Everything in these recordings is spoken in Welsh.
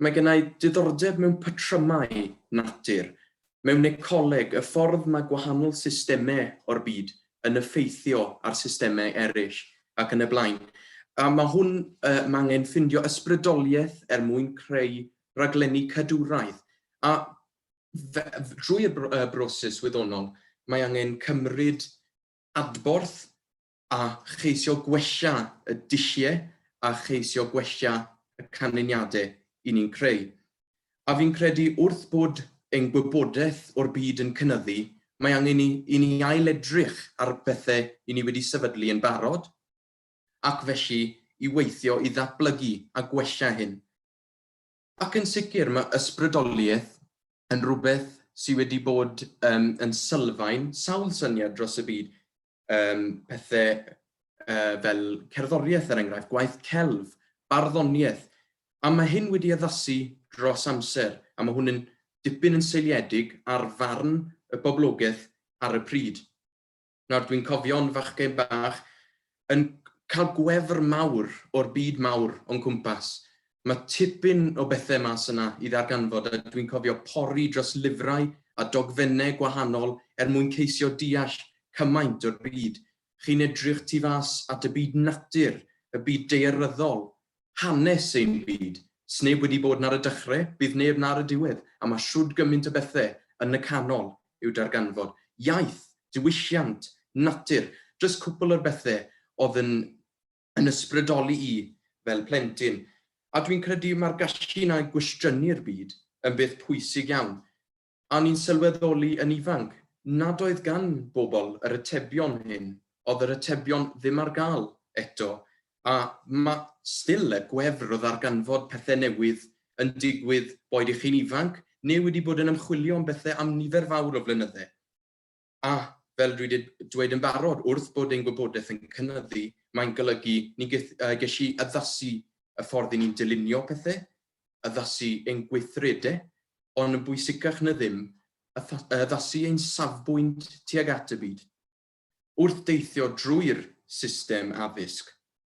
Mae genna i diddordeb mewn patrymau natur, mewn ecoleg, y ffordd mae gwahanol systemau o'r byd yn effeithio ar systemau eraill, ac yn y blaen. A mae hwn, mae angen ffindio ysbrydoliaeth er mwyn creu rhaglenni cadwraeth. A drwy'r broses wyddonol, mae angen cymryd adborth a cheisio gwella y dulliau a cheisio gwella y canlyniadau i ni'n creu. A fi'n credu wrth bod ein gwybodaeth o'r byd yn cynyddu, mae angen i i ni ail-edrych ar y pethau i ni wedi sefydlu yn barod, ac felly i weithio i ddatblygu a gwella hyn. Ac yn sicr, mae ysbrydoliaeth yn rhywbeth sydd wedi bod um, yn sylfaen sawl syniad dros y byd, um, pethau uh, fel cerddoriaeth er enghraifft, gwaith celf, barddoniaeth, a mae hyn wedi addasu dros amser, a mae hwn yn dipyn yn seiliedig ar farn y boblogaeth ar y pryd. Nawr, dwi'n cofio'n fachgen bach yn cael gwefr mawr o'r byd mawr o'n cwmpas. Mae tipyn o bethau mas yna i ddarganfod a dwi'n cofio pori dros lyfrau a dogfennau gwahanol er mwyn ceisio deall cymaint o'r byd. Chi'n edrych tu fas at y byd natur, y byd daearyddol, Hanes ein byd. Sneb wedi bod nar y dychre, bydd neb nar y diwedd, a mae shwd gymint o bethe yn y canol i'w darganfod. Iaith, diwylliant, natur, jyst cwpl o'r bethe odd yn yn ysbrydoli i fel plentyn. A dwi'n credu ma'r gallu 'na i gwestiynu'r byd yn beth pwysig iawn. A o'n i'n sylweddoli yn ifanc nad oedd gan bobl yr atebion hyn, oedd yr atebion ddim ar gael eto, a ma' still y gwefr o ddarganfod pethe newydd yn digwydd boed i chi'n ifanc neu wedi bod yn ymchwilio am bethe am nifer fawr o flynydde. A, fel dwi 'di dweud yn barod, wrth bod ein gwybodaeth yn cynyddu, mae'n golygu ni'n geth- yy gellu addasu y ffordd 'yn ni'n dylunio pethe, addasu ein gweithrede, ond yn bwysicach na ddim, atha- yy addasu ein safbwynt tuag at y byd. Wrth deithio drwy'r system addysg,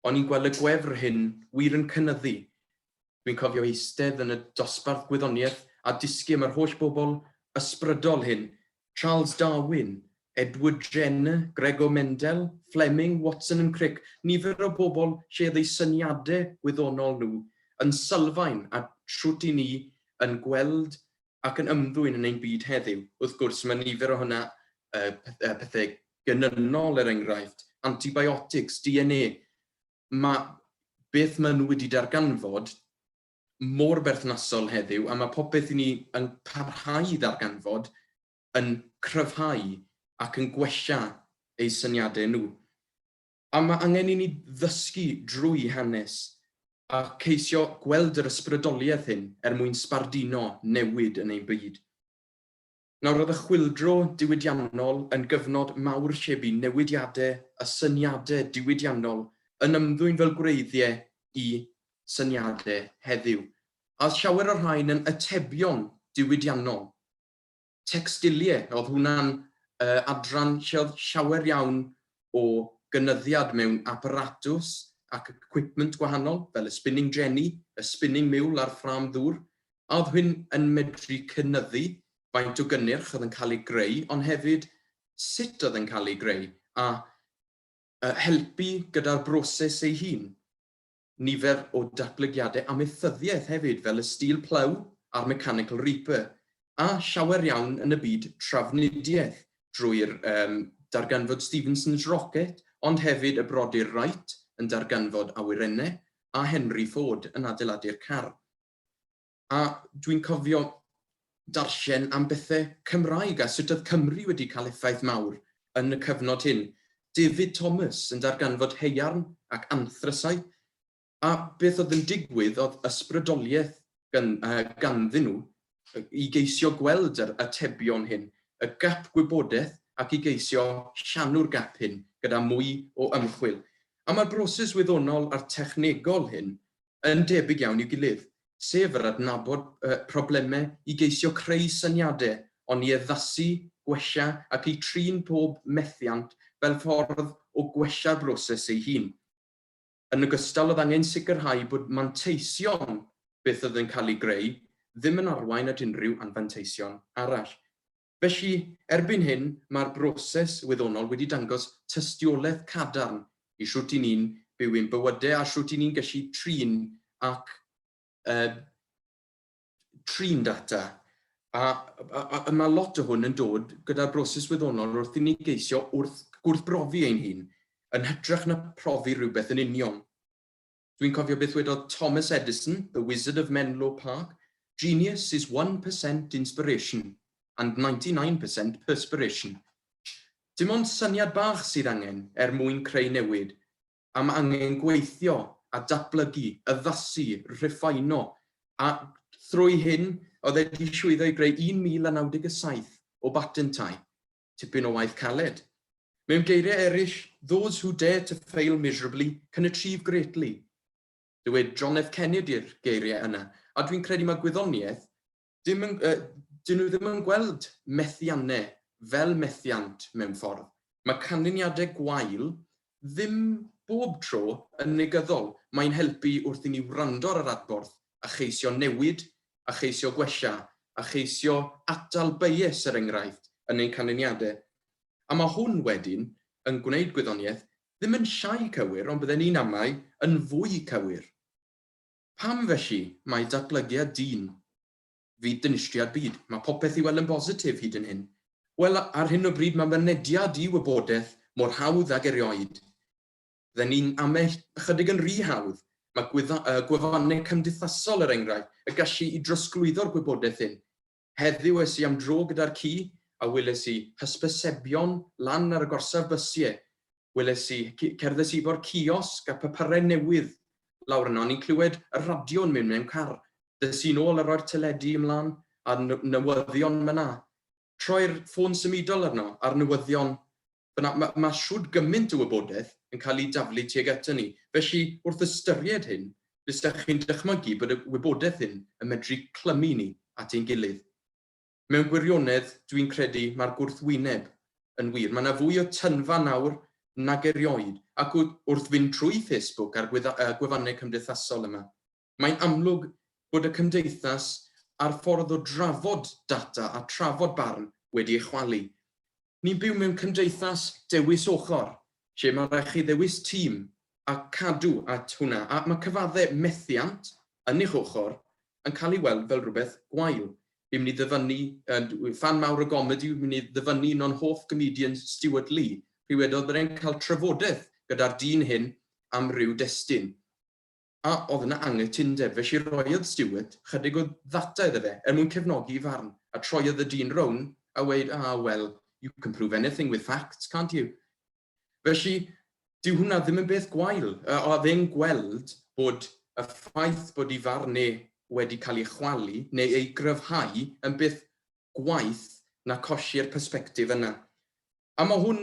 o'n i'n gweld y gwefr hyn wir yn cynyddu Dwi'n cofio eistedd yn y dosbarth gwyddoniaeth a dysgu am yr holl bobl ysbrydol hyn, Charles Darwin, Edward Jenner, Gregor Mendel, Fleming, Watson and Crick, nifer o bobl lle oedd eu syniadau gwyddonol nhw yn sylfaen at shwt i ni yn gweld ac yn ymddwyn yn ein byd heddiw. Wrth gwrs, mae nifer o hynna, pethau genynol er enghraifft, antibiotics, DNA, mae beth maen nhw wedi darganfod mor berthnasol heddiw a mae popeth i ni yn parhau i ddarganfod yn cryfhau ac yn gwella eu syniadau nhw. A mae angen i ni ddysgu drwy hanes a ceisio gweld yr ysbrydoliaeth hyn er mwyn sbarduno newid yn ein byd. Nawr roedd y chwyldro diwydiannol yn gyfnod mawr lle bu newidiadau a syniadau diwydiannol yn ymddwyn fel gwreiddiau i syniadau heddiw, a oedd llawer o'r rhain yn atebion diwydiannol. Textilie, oedd hwnna'n adran lle oedd llawer iawn o gynyddiad mewn aparatws ac equipment gwahanol, fel y spinning jenny, y spinning mule a'r ffrâm ddŵr, a oedd hyn yn medru cynyddu faint o gynnyrch oedd yn cael ei greu, ond hefyd sut oedd e'n cael ei greu, a helpu gyda'r broses ei hun. Nifer o datblygiadau amaethyddiaeth hefyd, fel y Steel Plough a'r Mechanical Reaper, a llawer iawn yn y byd trafnidiaeth, drwy'r darganfod Stephenson's Rocket, ond hefyd y brodyr Wright yn darganfod awyrennau, a Henry Ford yn adeiladu'r car. A dwi'n cofio darllen am bethe Cymraeg a sut oedd Cymru wedi cael effaith mawr yn y cyfnod hyn. David Thomas yn darganfod haearn ac anthrasau, a beth oedd yn digwydd oedd ysbrydoliaeth gan, uh, ganddyn nhw i geisio gweld yr atebion hyn, y gap gwybodaeth ac i geisio llanw'r gap hyn gyda mwy o ymchwil. A mae'r broses wyddonol a'r technegol hyn yn debyg iawn i'w gilydd, sef yr adnabod problemau i geisio creu syniadau, ond i addasu, gwella ac i trin pob methiant fel ffordd o gwella'r broses ei hun. Yn ogystal, oedd angen sicrhau bod manteision beth oedd yn cael ei greu ddim yn arwain at unrhyw anfanteision arall. Felly, erbyn hyn, mae'r broses wyddonol wedi dangos tystiolaeth cadarn i shwt i ni'n byw ein bywydau a shwt i ni'n gallu trin ac uh, trin data. A, a, a, a mae lot o hwn yn dod gyda'r broses wyddonol wrth i ni geisio wrth gwrthbrofi ein hun, yn hytrach na profi rhywbeth yn union. Dwi'n cofio beth wedodd Thomas Edison, the wizard of Menlo Park, Genius is one per cent inspiration and ninety nine per cent perspiration. Dim ond syniad bach sydd angen er mwyn creu newid, a mae angen gweithio a datblygu, addasu, rhiffaino, a thrwy hyn oedd e wedi llwyddo i greu 1,097 o batentau. tipyn o waith caled. Mewn geiriau eraill, those who dare to fail miserably can achieve greatly. Dywed John F Kennedy'r geiriau yna, a dwi'n credu mae gwyddoniaeth, dim yn, uh, dyn nhw ddim yn gweld methiannau fel methiant mewn ffordd. Mae canlyniadau gwael Ddim bob tro yn negyddol, mae'n helpu wrth i ni wrando ar yr adborth a cheisio newid a cheisio gwella a cheisio atal bias er enghraifft yn ein canlyniadau. A mae hwn wedyn yn gwneud gwyddoniaeth ddim yn llai cywir ond bydden i'n amau yn fwy cywir. Pam felly mae datblygiad dyn. Fyd dinistriad byd. Mae popeth i weld yn bositif hyd yn hyn. Wel, ar hyn o bryd mae mynediad i wybodaeth mor hawdd ag erioed. Fydden ni'n amau ychydig yn rhy hawdd. Mae gwefannau cymdeithasol, er enghraifft, y gallu i drosglwyddo'r gwybodaeth hyn. Heddiw es i am dro gyda'r ci a weles i hysbysebion lan ar y gorsaf bysiau. weles i, c- cerddes i fo'r ciosg a papurau newydd lawr yno, ni'n clywed y radio'n mynd mewn car, dys i'n ôl a roi'r teledu ymlaen a n- newyddion myna. Troi'r ffôn symudol arno, a'r newyddion fyna, mae ma shwd gymaint o wybodaeth yn cael ei daflu tuag aton ni, felly wrth ystyried hyn, bysach chi'n dychmygu bod y wybodaeth hyn yn medru clymu ni at ein gilydd. Mewn gwirionedd, dwi'n credu, mae'r gwrthwyneb yn wir. Mae 'na fwy o tynfa nawr nag erioed, ac wrth fynd trwy Facebook a'r gwefannau cymdeithasol yma, mae'n amlwg bod y cymdeithas a'r ffordd o drafod data a trafod barn wedi ei chwalu. Ni'n byw mewn cymdeithas dewis ochr, lle mae rhaid chi ddewis tîm a cadw at hwnna, a mae cyfadde methiant yn eich ochr yn cael ei weld fel rhywbeth gwael. Fi'n mynd i ddyfynnu, yy ffan mawr o gomedi, fi'n mynd i ddyfynnu un o'n hoff gomedians Stewart Lee, pryd wedodd bod e'n cael trafodeth gyda'r dyn hyn am ryw destun. a oedd yna anghytundeb, felly rhoiodd Stewart chydig o ddata iddo fe er mwyn cefnogi'i farn, a troiodd y dyn rown a weud ah well you can prove anything with facts can't you? Felly dyw hwnna ddim yn beth gwael, a oedd e'n gweld bod y ffaith bod i farn e wedi cael ei chwalu neu ei gryfhau yn beth gwaeth na colli'r persbectif yna. A mae hwn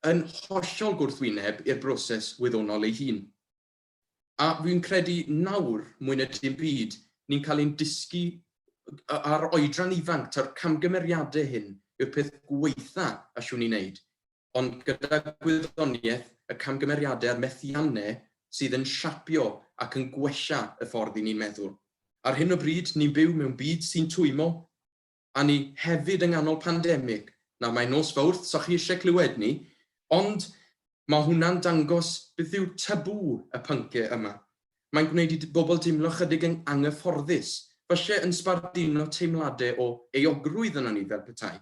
yn hollol gwrthwyneb i'r broses wyddonol ei hun. A fi'n credu nawr, mwy na dim byd, ni'n cael ein dysgu ar oedran ifanc, taw'r camgymeriadau hyn yw'r peth gwaetha allwn ni wneud, ond gyda gwyddoniaeth, y camgymeriadau a'r methiannau sydd yn siapio ac yn gwella y ffordd 'y ni'n meddwl. Ar hyn o bryd, ni'n byw mewn byd sy'n twymo. a ni hefyd yng nghanol pandemig. Nawr mae nos Fowrth, so chi isie clywed ni, ond mae hwnna'n dangos beth yw tabŵ y pyncau yma. Mae'n gwneud i bobl deimlo chydig yn anghyfforddus, falle yn sbarduno teimladau o euogrwydd ynon ni fel petai.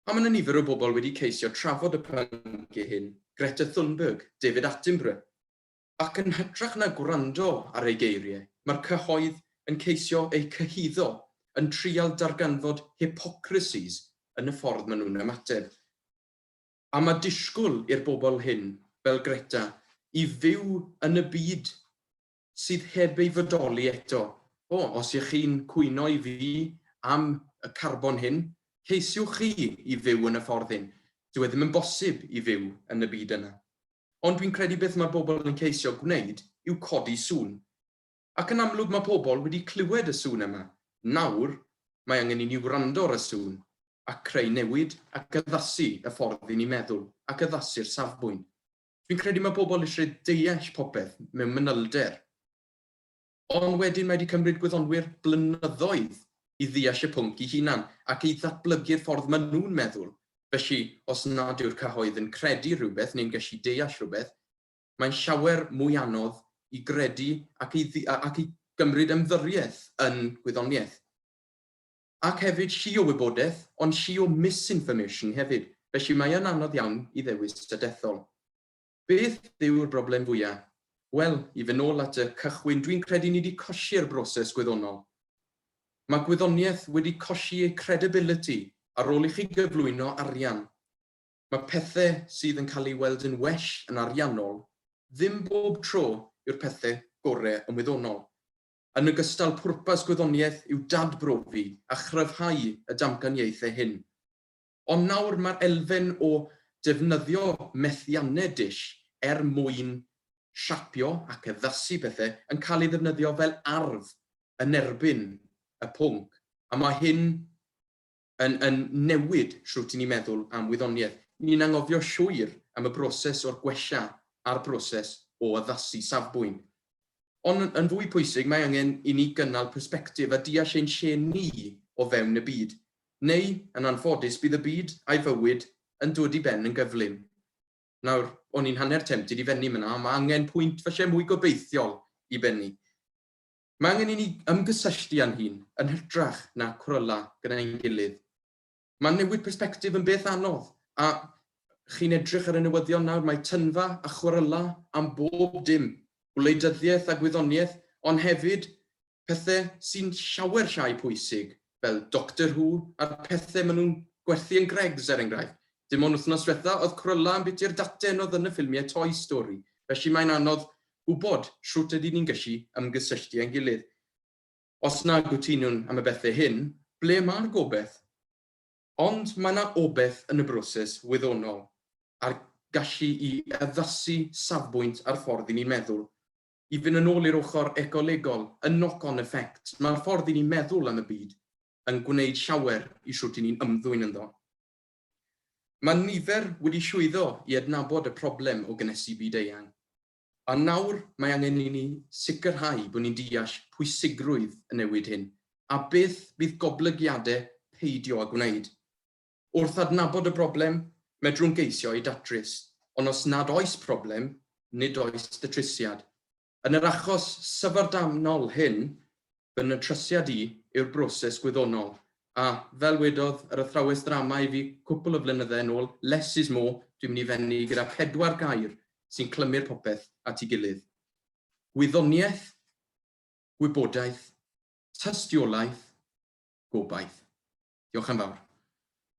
A mae yna nifer o bobl wedi ceisio trafod y pyncau hyn, Greta Thunberg, David Attenborough, Ac yn hytrach na gwrando ar ei geiriau, mae'r cyhoedd yn ceisio eu cyhuddo, yn trial darganfod hypocrisies yn y ffordd maen nhw'n ymateb. A mae disgwyl i'r bobl hyn, fel Greta, i fyw yn y byd sydd heb ei fodoli eto. O, os y'ch chi'n cwyno i fi am y carbon hyn, ceisiwch chi i fyw yn y ffordd hyn. Dyw e ddim yn bosib i fyw yn y byd yna. Ond dwi'n credu beth mae pobl yn ceisio gwneud yw codi sŵn. Ac yn amlwg mae pobl wedi clywed y sŵn yma, nawr mae angen i ni wrando ar y sŵn a creu newid ac addasu y ffordd i ni meddwl ac addasu'r safbwynt. Dwi'n credu mae pobl eisiau deall popeth mewn manylder. Ond wedyn mae wedi cymryd gwyddonwyr blynyddoedd i ddeall y pwnc i hunan ac i ddatblygu'r ffordd maen nhw'n meddwl, felly os nad yw'r cyhoedd yn credu rhywbeth neu'n gallu deall rhywbeth, mae'n llawer mwy anodd i gredu ac i ac i gymryd ymddyriaeth yn gwyddoniaeth. Ac hefyd llu o wybodaeth, ond llu o misinformation hefyd, felly mae yn anodd iawn i ddewis a dethol. Beth yw'r broblem fwya? Wel, i fyn nôl at y cychwyn, dwi'n credu ni di cosi'r broses gwyddonol. Mae gwyddoniaeth wedi cosi ei credibility ar ôl i chi gyflwyno arian. Mae pethe sydd yn cael ei weld yn well yn ariannol ddim bob tro yw'r pethe gore yn wyddonol. Yn ogystal, pwrpas gwyddoniaeth yw dadbrofi a chryfhau y damcaniaethe hyn. Ond nawr mae'r elfen o defnyddio methiannau dull er mwyn siapio ac addasu pethau yn cael ei ddefnyddio fel arf yn erbyn y pwnc, a mae hyn yn yn newid shwt i ni meddwl am wyddoniaeth. Ni'n anghofio llwyr am y broses o'r gwella a'r broses o addasu safbwynt. Ond yn fwy pwysig, mae angen i ni gynnal persbectif a deall ein lle ni o fewn y byd Neu, yn anffodus, bydd y byd, a'i fywyd, yn dwod i ben yn gyflym. Nawr, o'n i'n hanner tempted i fennu myna, ond mae angen pwynt falle mwy gobeithiol i bennu. Mae angen i ni ymgysylltu â'n hun, yn hytrach na cwrela gyda ein gilydd. Mae newid persbectif yn beth anodd, a chi'n edrych ar y newyddion nawr, mae tynfa a chwrela am bob dim, gwleidyddiaeth a gwyddoniaeth, ond hefyd pethe sy'n llawer llai pwysig fel Doctor Who a'r pethe ma nhw'n gwerthu yn Greggs er enghraifft. Dim ond wthnos dwetha oedd Cruella yn biti'r daten oedd yn y ffilmie Toy Story felly mae'n anodd gwbod shwt ydyn ni'n gyllu ymgysylltu ein gilydd. Os na gytunwn am y bethe hyn, ble ma'r gobeth? Ond ma na obeth yn y broses wyddonol a'r gallu i addasu safbwynt a'r ffordd i ni'n meddwl. I fynd yn ôl i'r ochr ecolegol, y knock-on effect, mae'r ffordd i ni meddwl am y byd yn gwneud llawer i shwt i ni'n ymddwyn ynddo. Mae nifer wedi llwyddo i adnabod y problem o gynhesu byd-eang, a nawr mae angen i ni sicrhau bod ni'n deall pwysigrwydd y newid hyn a beth fydd goblygiadau peidio â gwneud. Wrth adnabod y broblem, medrwn geisio ei datrys, ond os nad oes problem, nid oes datrysiad. Yn yr achos syfrdanol hyn, fy natrysiad i yw'r broses gwyddonol, a, fel wedodd yr athrawes ddrama i fi cwpl o flynyddau yn ôl, less is more, dwi'n mynd i fennu gyda pedwar gair sy'n clymu'r popeth at ei gilydd. Gwyddoniaeth, gwybodaeth, tystiolaeth, gobaith. Diolch am fawr.